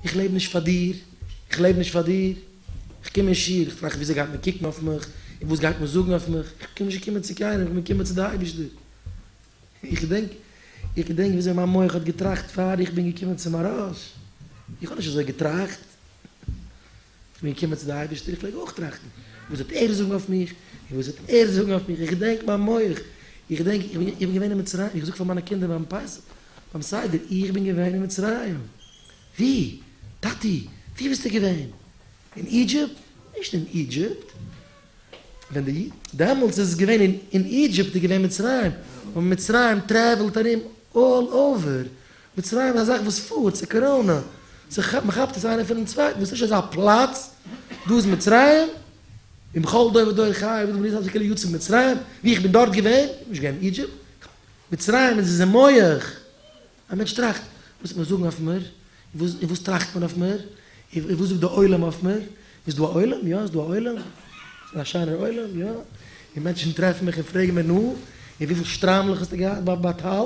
איך לעב נישט פאר דיר, איך לעב נישט פאר דיר, איך קום אין שיעור, איך טראכט וויאזוי גייט מען קוקן אויף מיך, און וואס גייט מען זאגן אויף מיך, איך בין נישט געקומען צו קיינעם, איך בין געקומען צו די אייבישטער, איך געדענק, איך געדענק וויאזוי מיין מח האט געטראכט פאר איך בין געקומען צום ארויס, איך האב נישט אזוי געטראכט. איך בין געקומען צו די אייבערשטער, איך פלעג אויך טראכטן, וואס וועט ער זאגן אויף מיך, און וואס וועט ער זאגן אויף מיך, איך געדענק מיין מח, איך געדענק, איך בין געווען אין מצרים, איך זאג פאר מיינע קינדער ביים פסח, ביים סדר, איך בין געווען אין מצרים, ווי? טאטי, ווי ביסטו געווען? אין אידזשיפט? נישט אין אידזשיפט, ווען די, דעמאלטס איז עס געווען אין אידזשיפט איז געווען מצרים, און מצרים טרעוולט ארום אלל אווער, מצרים אזאך וואס פארט צו קאראנע, מ'כאפט עס איינער פונעם צווייטן, דאס איז נישט אזא פלאץ, דא איז מצרים, און בכל דור ודור חי, ווי דער מגיד זצוקל י יצא ממצרים, ווי איך בין דארט געווען, איך בין נישט געווען אין אידזשיפט, מצרים איז אין מח, א מענטש טראכט, וואס וועט מען זאגן אויף מיר, און וואס טראכט מען אויף מיר, און וואס זאגט דער עולם אויף מיר, איז דא א עולם, יא איז דא א עולם, ס'איז א שיינער עולם, יא, און מענטשן טרעפן מיך און פרעגן מיר נו, און וויפיל שטריימלעך האסטו געהאט ביי טל,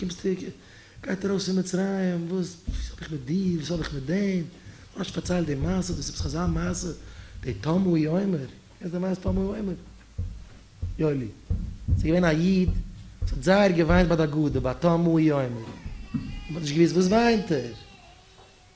קומסט צוריק, גייט ארויס פון מצרים, וואס האב איך מיט דיר, וואס האב איך מיט דעם, האסט פארציילט די מעשה, דאס איז עפעס אזא מעשה, די טמא'י עומר, קענסט די מעשה טמא'י עומר? יואלי, ס'איז געווען א איד, וואס האט זייער געוויינט ביי די אגודה, ביי טמא'י עומר, און מ'האט נישט געוואוסט וואס וויינט ער,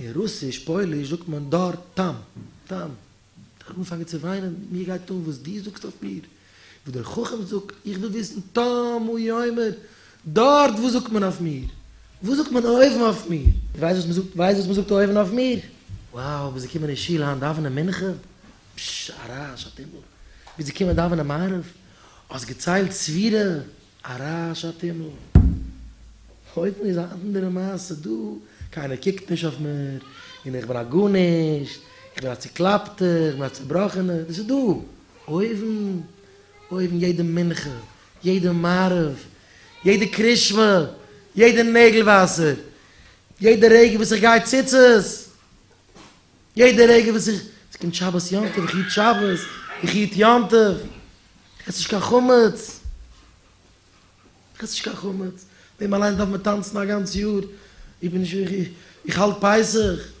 אין רוסיש פויליש זאגט מען דאר טאם טאם. איך האב אנגעפאנגען צו וויינען, מיר גייט אן וואס דו זאגסט אויף מיר, וואס דער חכם זאגט, איך וויל וויסן טאם הוא יאמר, דארט וואס זאגט מען אויף מיר? וואס זאגט מען אויבן אויף מיר? ווייסט וואס מען זאגט, ווייסט וואס מען זאגט אויבן אויף מיר? וואו ביז געקומען אין שול היינט דאווענען מנחה? פשש א רעש א טומל, ביז געקומען דאווענען מעריב האסט געציילט ספירה? א רעש א טומל. אויפן איז א אנדערע מעשה דא, קיינער קוקט נישט אויף מיר, און איך בין א גארנישט, איך בין א צוקלאפטע, איך בין א צובראכענע, דאס איז דא. אויבן, אויבן יעדע מנחה, יעדע מעריב, יעדע קרישמע, יעדע נעגל וואסער, יעדע רגע וואס איך גיי ציצית! יעדע רגע וואס איך, עס קומט שבת יום טוב, איך היט שבת, איך היט יום טוב, איך עס נישט קיין חמץ, איך עס נישט קיין חמץ, דעם אליינס דארף מען טאנצן א גאנץ יאר, איך בין נישט, איך האלט פסח.